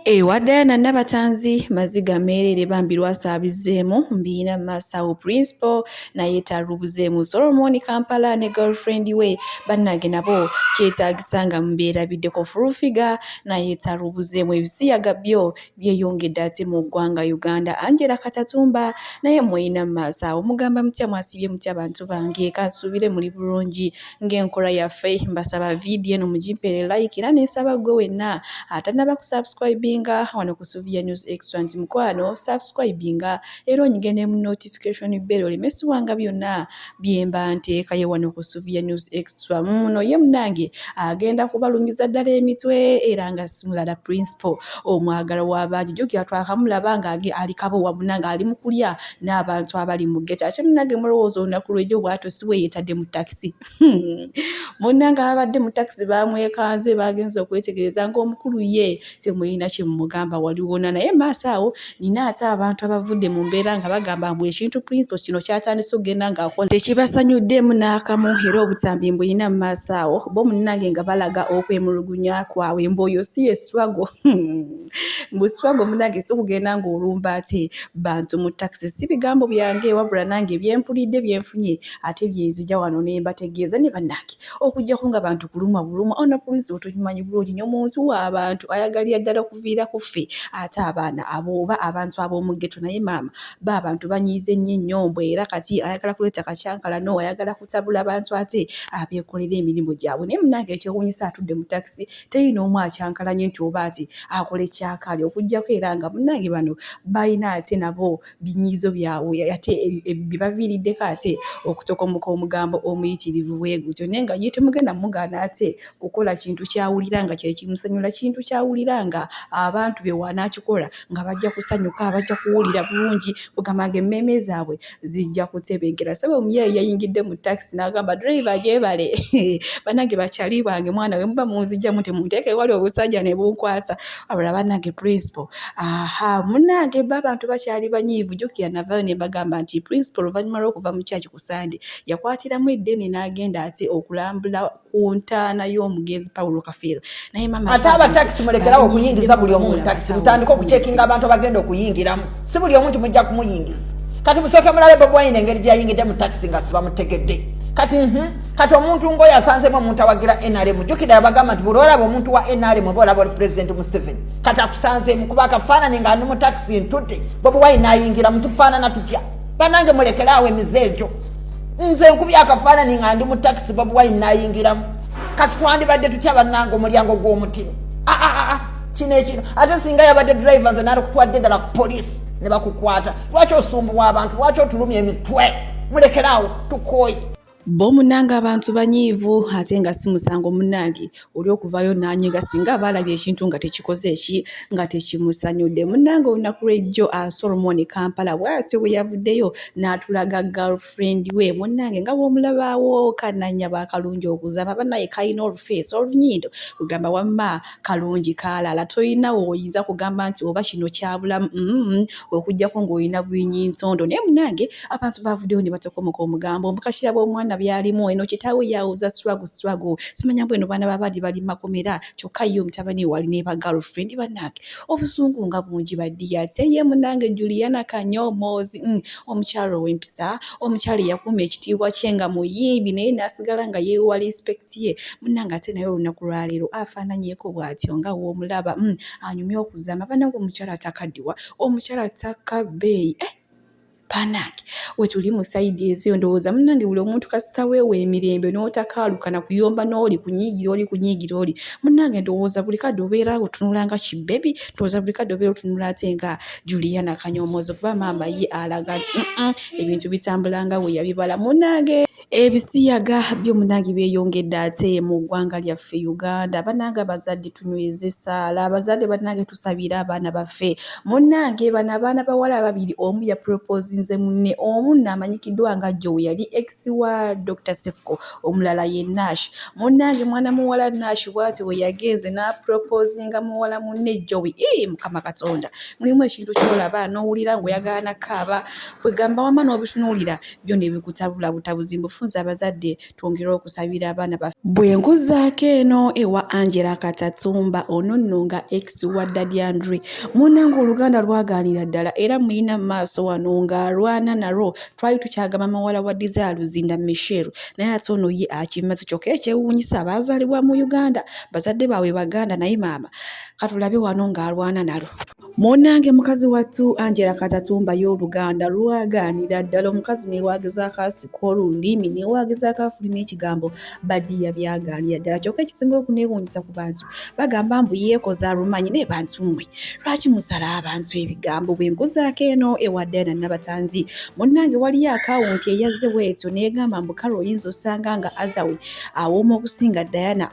ewa diana nabatanzi maziga meerere bambi lwasa abizeemu mbiina masawo principal naye talubuzeemu solomoni kampala ne girlfriend we bannange nabo kyetaagisa nga mubeerabiddeko fulufiga naye talubuzeemu ebisiyaga byo byeyongedde ate mu ggwanga uganda angela katatumba naye muyina masawo mugamba mutya mwasibye mutya bantu bange kansuubire muli bulungi ng'enkola yaffe mbasaba vidiyo eno mugimpere like era nensaba gwe wenna atanaba ku subscribinga wano ku suvia news extra nti mukwano subscribinga era onyige ne mu notification bell oleme siwanga byonna byemba nteekayo wano ku suvia news extra muno ye munange agenda kubalumiza ddala emitwe era nga simulala principal omwagala w'abangi jukira twakamulaba nga ali kabowa munange ali mu kulya n'abantu abali mu geta ate munange mulowooza olunaku lwejo bwato siweyetadde mu takisi hmm. munange ababadde mu takisi bamwekanze bagenza okwetegereza ngaomukulu ye temulina kyemumugamba waliwona naye maaso awo nina ate abantu abavudde mu mbeera nga bagamba mbu ekintu principles kino kyatandise okugenda ngaakola tekibasanyuddemu n'akamu era obutambi mbuyina mu maaso awo bo munange nga balaga okwemulugunya kwabwe mbu oyo si ye swago hmm. mbuswago munange sikugenda ng'olumba ate bantu mu takisi si bigambo byange wabula nange byempulidde byenfunye ate byenzija wano ne mbategeeza ne bannange okujjako nga bantu kulumwa bulumwa ono prince otukimanyi bulungi nyo muntu w'abantu ayagalira ddala okuviira ku ffe ate abaana abo oba abantu ab'omuggeto naye maama ba abantu banyiize nnyo ennyombo era kati ayagala kuleeta kakyankalano ayagala kutabula bantu ate abeekolera emirimu gyabwe naye munange ekyewunyisa atudde mu takisi teri n'omu akyankalanye nti oba ati akola ekyakaali okujjako era nga munnange bano balina ate nabo binyiizo byabwe ate bibaviiriddeko ate okutokomoka omugambo omuyitirivu bwe gutyo naye nga ye temugenda mugaana ate kukola kintu ky'awulira nga kye kimusanyula kintu ky'awulira nga abantu be w'anaakikola nga bajja kusanyuka bajja kuwulira bulungi kugamba nga emmeeme zaabwe zijja kutebenkera saba omuyayi yayingidde mu takisi n'agamba driva gyebale banange bakyali bange mwana we muba munzijjamu temunteeka ewali obusajja ne bunkwasa abula banange principal aha munange ba abantu bakyali banyiivu jukira navayo ne mbagamba nti principal oluvannyuma lw'okuva mu kyaki ku sande yakwatiramu eddene n'agenda ate okulambula ku ntaana y'omugenzi paulo kafeero naye mama ate aba takisi mulekerawo okuyingiza buli omu mutakisi mutandika okucekinga abantu abagenda okuyingiramu si buli omu nti mujja kumuyingiza kati musooke mulabe bobwayina engeri gyeyayingidde mu takisi nga sibamutegedde kati mhm, kati omuntu ngaoyo asanzemu omuntu awagira nrm jukira yabagamba nti buli olaba omuntu wa nrm oba olaba oli pulezidenti museveni kati akusanzemu kuba akafaanani nga ndi mu takisi ntute bobwayina ayingira mutufaanana tutya banange mulekeraawo emize egyo nze nkubya akafaanani nga ndi mu takisi babuwaini nayingiramu kati twandibadde tutya banange omulyango gw'omutiro ah, ah, ah, kino ekino ate singa yabadde drive nze nalikutwadde ddala ku poliisi ne bakukwata lwaki osumbuwa abantu lwaki otulumya emitwe mulekeraawo tukooyi Bo munange abantu banyiivu ate nga si musango munange oli okuvayo n'anyiga singa aba alabye ekintu nga tekikoze eki nga tekimusanyudde munange olunaku lw'ejjo ah, Solomon Kampala bw'atyo bwe yavuddeyo n'atulaga girlfriend we munange nga bw'omulabaawo kananya ba kalungi okuzama banaye kalina olufeesi olunyindo lugamba wamma kalungi kaalala tolina woyinza kugamba nti oba kino kyabulamu mm, okuggyako ng'olina bwinyintondo naye munange abantu bavuddeyo ne batokomoka omugambo mbu kakiraba omwana byalimu eno kitaawe yawuza swagu swagu simanya mbu eno baana babali bali makomera kyokka ye omutabani wali ne ba girlfriend banange obusungu nga bungi baddiya ate ye munange juliana kanyomoozi mm, omukyalo ow'empisa omukyalo eyakuuma ekitiibwa kye nga muyiibi naye n'asigala nga yeewa respect ye munange ate naye olunaku lwaleero afaananyeko bw'atyo nga w'omulaba mm, anyumye okuzama banange omukyalo atakaddiwa omukyalo ataka bbeeyi eh! banange wetuli mu saidi ezeyo ndowooza munange buli omuntu kasita weewa emirembe n'otakaalukana kuyomba n'oli kunyiigira oli kunyiigira oli munange ndowooza buli kadde obeera otunula nga kibebi ndowooza buli kadde obeera otunula ate nga juliana kanyomoozo kuba maama ye alaga nti ebintu bitambula nga weyabibala munange Ebisiyaga byo munange byeyongedde ate mu ggwanga lyaffe Uganda banange abazadde tunyweze essaala abazadde banange tusabire abaana baffe munange bano abaana bawala ababiri omu ya propozinze munne omu naamanyikiddwa nga joe yali ex wa Dokita Sefuko omulala ye Nash munange mwana muwala Nash bwati we yagenze n'apropozinga muwala munne joe ii mukama katonda mulimu ekintu kyolaba n'owulira ng'oyagala na kaaba kwegamba wama n'obitunuulira byo ne bikutabula butabuzi mbu funza abazadde twongere okusabira abaana baffe. Bwe nkuzaako eno ewa Angela Katatumba ono nno nga ex wa Daddy Andre munnange oluganda lwagaanira ddala era muyina mu maaso wano ng'alwana nalwo twali tukyagamba mawala wa Desire Luzinda Michelle naye ate ono ye akimaze kyokka ekyewuunyisa baazaalibwa mu Uganda bazadde baabwe Baganda naye maama katulabe wano ng'alwana nalwo. Munnange mukazi wattu Angela Katatumba ye Oluganda lwagaanira ddala omukazi newaageza akaasiko olulimi newaageza akaafuluma ekigambo badiya byagaanira ddala kyokka ekisinga okuneewuunyisa ku bantu bagamba mbu yeekoza alumanyi naye bantu mmwe lwaki musala abantu ebigambo bwe nkuzaako eno ewa Diana Nabatanzi munnange waliyo akawunti eyazze bwetyo neegamba mbu kale oyinza osanga nga Azawe awooma okusinga Diana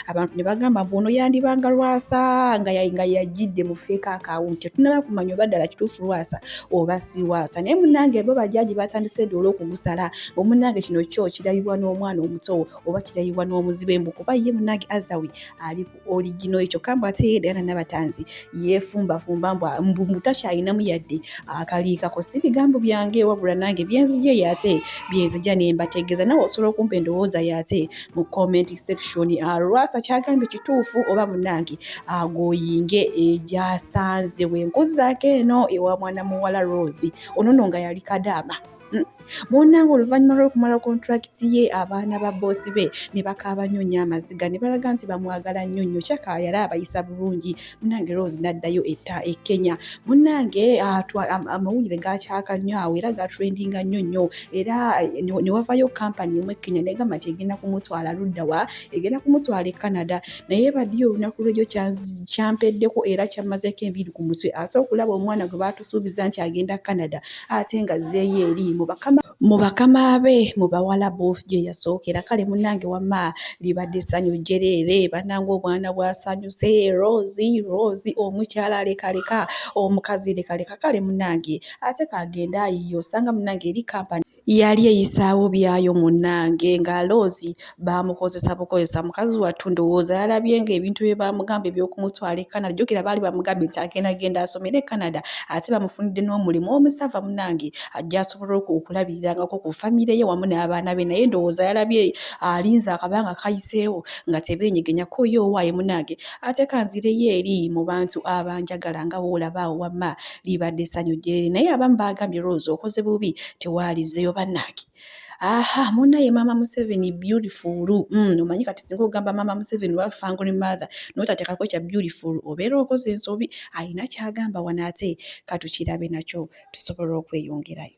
abantu ne bagamba mbu ono yandibanga lwasa nga yajjidde mu feeka akawunti tetunaba kumanya oba ddala kituufu lwasa oba si lwasa naye munange bo bajaji batandise doola okugusala omunange kino kyo kirayibwa n'omwana omuto oba kirayibwa n'omuzibe mbu kuba ye munange azawi ali ku oligino ekyo kambu ate yeedana nabatanzi yefumbafumba mbu mutakyalinamu yadde akaliikako si bigambo byange wabula nange byenzija yate byenzija nembategeeza nawe osobola okumpa endowooza yate mu comment section ah, lwasa kyagambye kituufu oba munange agoyinge ah, egyasanze wenkozi zake eno ewa mwana muwala rose onono nga yali kadaama hmm. munange oluvannyuma lw'okumala kontulakiti ye abaana ba boosi be ne bakaaba nnyo nnyo amaziga ne balaga nti bamwagala nnyo nnyo kyaka yali abayisa bulungi munange rose naddayo etta e kenya munange ah, amawulire gakyaka nnyo awo era gatrendinga nnyo nnyo era eh, newavayo kampani emu e kenya negamba nti egenda kumutwala luddawa egenda kumutwala e canada naye badiyo olunaku lwejo kyampeddeko era kyamazeko enviiri ku mutwe ate okulaba omwana gwe batusuubiza nti agenda canada ate nga zeeyo eri mu bakama mu bakama be mu bawalabu gye yasookera kale munnange wamma libadde ssanyu jjereere bannange obwana bwasanyuse roozi roozi omukyala lekaleka omukazi lekaleka kale munnange ate kagenda ayiyo osanga munnange eri kampani yali eyisaawo byayo munnange nga loozi baamukozesa bukozesa mukazi wattu ndowooza yalabye nga ebintu bye baamugamba ebyokumutwala e canada jjukira baali bamugambye nti agenda genda asomere e canada ate bamufunidde n'omulimu omusava munange ajja asobola okulabirirangako ku famire ye wamu n'abaana be naye ndowooza yalabye alinze akabanga kayiseewo nga tebeenyegenya koyo owaaye munange ate kanzireyo eri mu bantu abanjagala nga woolaba awo wamma libadde essanyu gyeri naye abamu baagambye rose okoze bubi tewaalizeyo bannange aha munaye maama museveni beautiful mm, omanyi kati singa ogamba maama museveni wa fangry mother notatekako kya beautiful obeera okoze ensobi alina kyagamba wano ate katukirabe nakyo tusobola okweyongerayo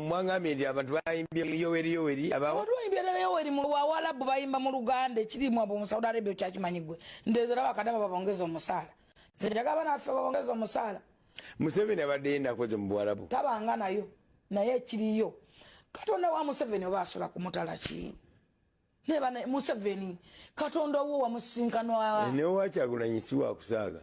mwangambye nti abantu bayimbye yoweri yoweri abawayimbirala yoweri muwawalabu bayimba mu luganda ekirimwa bu musaudi arabia okyakimanyi gwe ndezera bakadama babongeza omusaala nze njaga abaana baffe babongeza omusaala museveni abadde yenakoze mu buwarabu tabanga nayo naye ekiriyo katonda wa museveni oba asola kumutala ki neba museveni katonda owo wamusinkanwa eh, newakyagulanyi siwakusaaga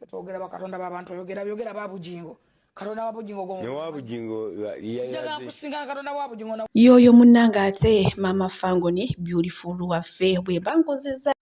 twogera bakatonda babantu oyogera byogera babujingo katonda wabujingo gomewabujingo yakusinga katonda wabujingo yoyo munange ate mama fangoni beautiful waffe bwemba nkozeza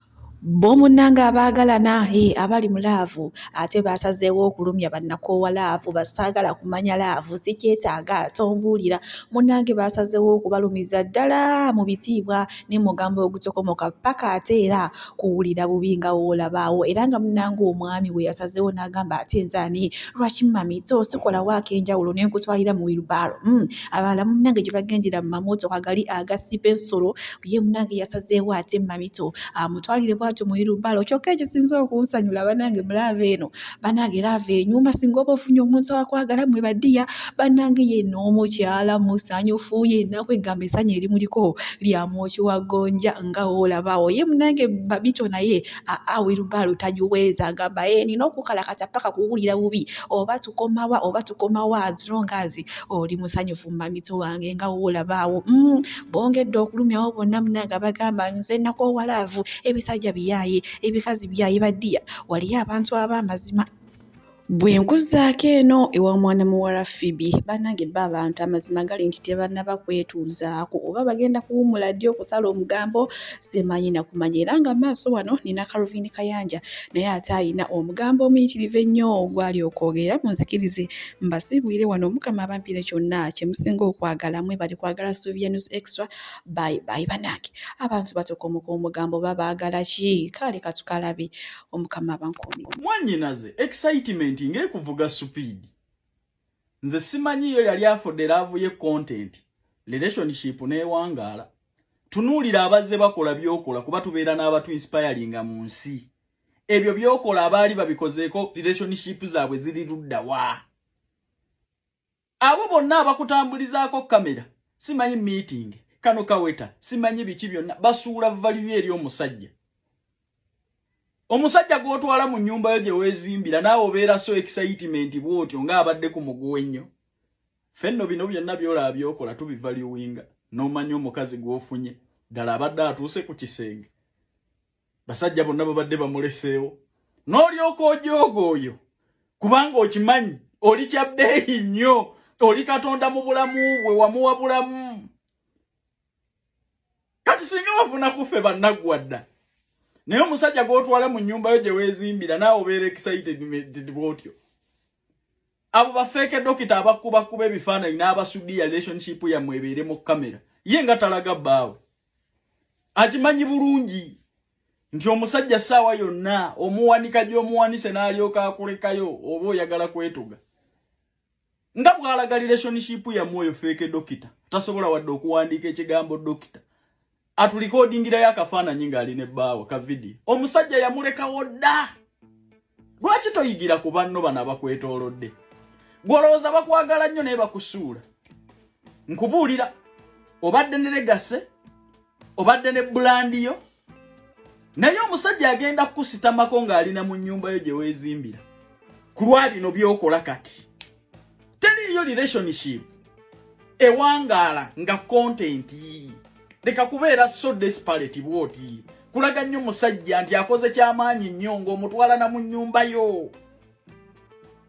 Boomunnange abaagalana eh, abali mu laavu ate baasazeewo okulumya bannakoowa laavu basaagala kumanya laavu sikyetaaga tombuulira munnange baasazeewo okubalumiza ddala mu bitiibwa ne mugambo ogutokomoka ppaka ate era kuwulira bubi nga woolabaawo era nga munnange omwami we yasazeewo n'agamba ate nze ani lwaki mami to sikola waako enjawulo ne nkutwalira mu wilbaaro hmm, abalala munnange gye bagendera mu mamootoka gali agasiba ensolo ye munange yasazeewo ate mamito amutwalire ah, bwatyo muirubalo kyokka ekisinza okunsanyula banange mulaava eno banange laava enyuma singa oba ofunye omuntu awakwagala mwe badiya banange ye n'omukyala musanyufu yenaku egamba esanya erimuliko lyamwoki wa gonja nga woolabawo ye munange babito naye awirubalo ah, tagiweza agamba ye eh, nina okukalakata paka kuwulira bubi oba tukomawa oba tukomawa azirongazi oli musanyufu mamito wange nga woolabaawo mm. bongedde okulumyawo bonna munange abagamba nze nakoowa laavu ebisajja biyaaye ebikazi byaye badiya waliyo abantu ab'amazima bwe nkuzaako eno ewa mwana muwala fibi banange ba abantu amazima gali nti tebanaba kwetuuzaako oba bagenda kuwumula ddi okusala omugambo semanyi nakumanya era nga maaso wano nina kaluvini kayanja naye ate ayina omugambo omuyitirivu ennyo ogwali okwogera munzikirize mbasiibwire wano omukama abampire kyonna kyemusinga okwagala mwebali kwagala sylvia news extra by by banange abantu batokomoka omugambo babaagala ki kaale katukalabe omukama abankuumi mwanyinaze excitement ng'ekuvuga supiidi nze simanyi yo yali afudde laavu ye content relationship n'ewangaala tunuulira abazze bakola byokola kuba tubeera n'abatu inspiringa mu nsi ebyo byokola abaali babikozeeko relationship zaabwe ziri ludda wa abo bonna abakutambulizaako kamera simanyi meeting kano kaweta simanyi biki byonna basuula valiyo eri omusajja omusajja gw'otwala mu nnyumba yo gye weezimbira naawe obeera so excitement bw'otyo ng'abadde ku muguwa ennyo fenno bino byonna byolaba byokola tubivaluwinga n'omanya omukazi gw'ofunye ddala abadde atuuse ku kisenge basajja bonna babadde bamuleseewo n'olyoka ojooga oyo kubanga okimanyi oli kya bbeeyi nnyo oli katonda mu bulamu bwe wamuwa bulamu kati singa wafuna kuffe bannaggwa dda naye omusajja gw'otwala mu nnyumba yo gye weezimbira naawe obeera excited bwotyo abo bafeeke dokita abakubakuba ebifaananyi n'abasudiya relationship yammwe ebeere mu kamera ye nga talaga bbaawe akimanyi bulungi nti omusajja saawa yonna omuwanika gyomuwanise n'alyoka akulekayo oba oyagala kwetuga nga bwalaga relationship yamwe oyo feeke dokita tasobola wadde okuwandiika ekigambo dokita atulikodingirayo akafaananyi ng'ali ne bbaawo ka vidiyo omusajja yamulekawo dda lwaki toyigira ku banno bano abakwetoolodde gwolowooza bakwagala nnyo naye bakusuula nkubuulira obadde ne legase obadde ne bulandi yo naye omusajja agenda kukusitamako ng'alina mu nnyumba yo gye weezimbira ku lwa bino by'okola kati teriiyo relationship ewangaala nga content leka kubeera so desperate bwoti kulaga nnyo musajja nti akoze kyamaanyi nnyo ng'omutwalana mu nnyumba yo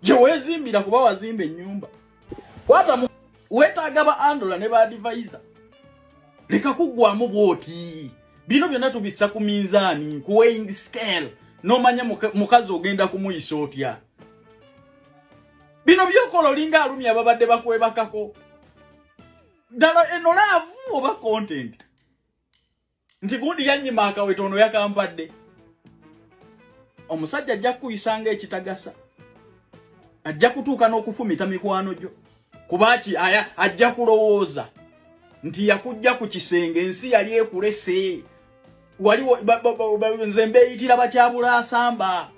gye weezimbira kuba wazimba ennyumba kwatamu weetaaga ba andola ne baadivaiza leka kuggwamu bwoti bino byonna tubissa ku minzaani ku weighing scale n'omanya mukazi ogenda kumuyisa otya bino byokola olinga alumya babadde bakwebakako ddala eno laavu oba content nti gundi yanyima akaweta ono yakampadde omusajja ajja kukuyisa nga ekitagasa ajja kutuuka n'okufumita mikwano gyo kuba ki aya ajja kulowooza nti yakujja ku kisenge ensi yali ekulese waliwo nze mbeeyitira bakyabula asamba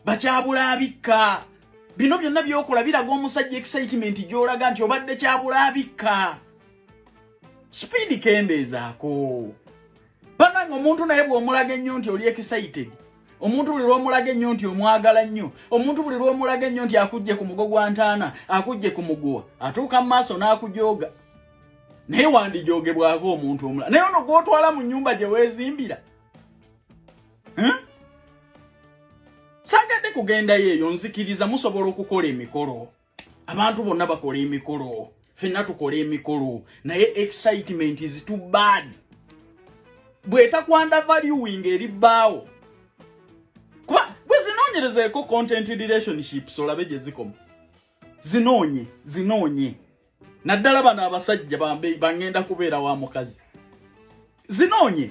bakyabula abikka bino byonna byokola biraga omusajja excitement gyolaga nti obadde kyabula abikka sipiidi kendeezaako banange omuntu naye bwomulaga ennyo nti oli excited omuntu buli lwomulaga ennyo nti omwagala nnyo omuntu buli lwomulaga ennyo nti akujje ku mugo gwa ntaana akujje ku muguwa atuuka mu maaso n'akujooga naye wandijoogebwako omuntu omulala naye ono gwotwala mu nyumba gye weezimbira hmm? sagadde kugendayo eyo nzikiriza musobola okukola emikolo abantu bonna bakola emikolo fenna tukola emikolo naye excitement is too bad bwetakwanda valuing eri bbaawo kuba bwezinoonyerezeeko content relationships olabe gye zikoma zinoonye zinoonye naddala bano abasajja bangenda kubeera wa mukazi zinoonye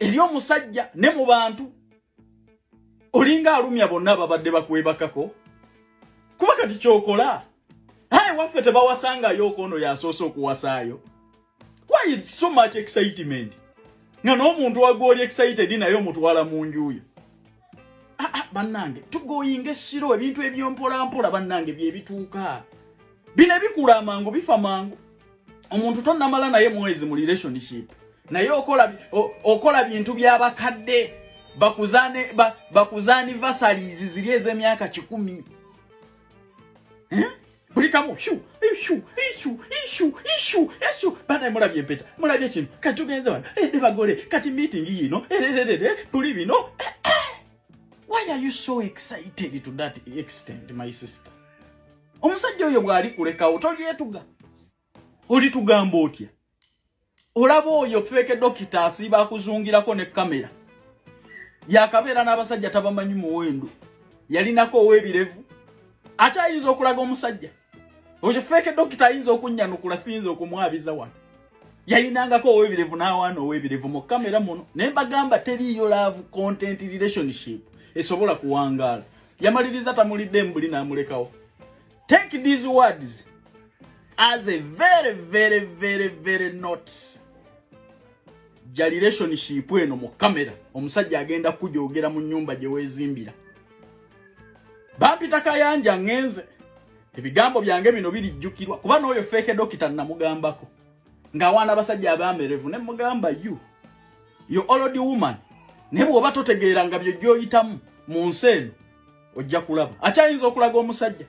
eri omusajja ne mu bantu olinga alumya bonna ababadde bakwebakako kuba kati kyokola aye waffe tebawasangayo okoono yasoose okuwasaayo why its so much excitement nga n'omuntu wagwoli excited naye omutwala mu njuyo ah, ah, bannange tugoyinga essiro ebintu ebyompolampola bannange byebituuka bino ebikula amangu bifa mangu omuntu tonamala naye mwezi mu relationship naye okola okola bintu byabakadde bakuzane ba, bakuzani vasalizi ziri ezemyaka kikumi eh? buli kamu shu ishu ishu ishu ishu ishu bana mulabye empeta mulabye kino kati tugenze wano eh, ne bagole kati meeting yino erererere eh, tuli bino why are you so excited to that extent my sister omusajja oyo bwali kulekawo tolyetuga olitugamba otya olaba oyo feeke dokita asiiba akuzungirako ne kamera yakabeera n'abasajja tabamanyi muwendo yalinako owebirevu ate ayinza okulaga omusajja oyo feeke dokita ayinza okunnyanukula siyinza okumwabiza wano yayinangako owebirevu n'awaana owebirevu mu kamera muno naye mbagamba teriiyo laavu content relationship esobola kuwangaala yamaliriza tamulidde mbuli n'amulekawo take these words as a very very very very not ja relationship eno mu kamera omusajja agenda kujogera mu nyumba gye weezimbira bampita kayanja ngenze ebigambo byange bino birijjukirwa kuba n'oyo feeke dokita namugambako nga wana basajja abamerevu ne mugamba you you already woman ne bwoba totegeera nga byo joyitamu mu nsi eno ojja kulaba akyayinza okulaga omusajja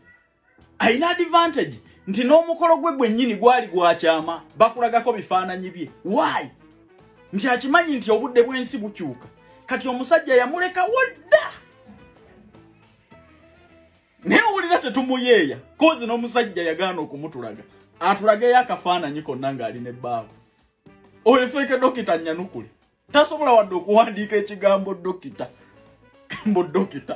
alina advantage nti n'omukolo gwe gwennyini gwali gwakyama bakulagako bifaananyi bye why nti akimanyi nti obudde bw'ensi bukyuka kati omusajja yamulekawo dda naye owulira tetumuyeeya kozi n'omusajja yagaana okumutulaga atulageyo akafaananyi konna ng'ali ne bbaawe oyo feeke dokita nyanukule tasobola wadde okuwandiika ekigambo dokita kambo dokita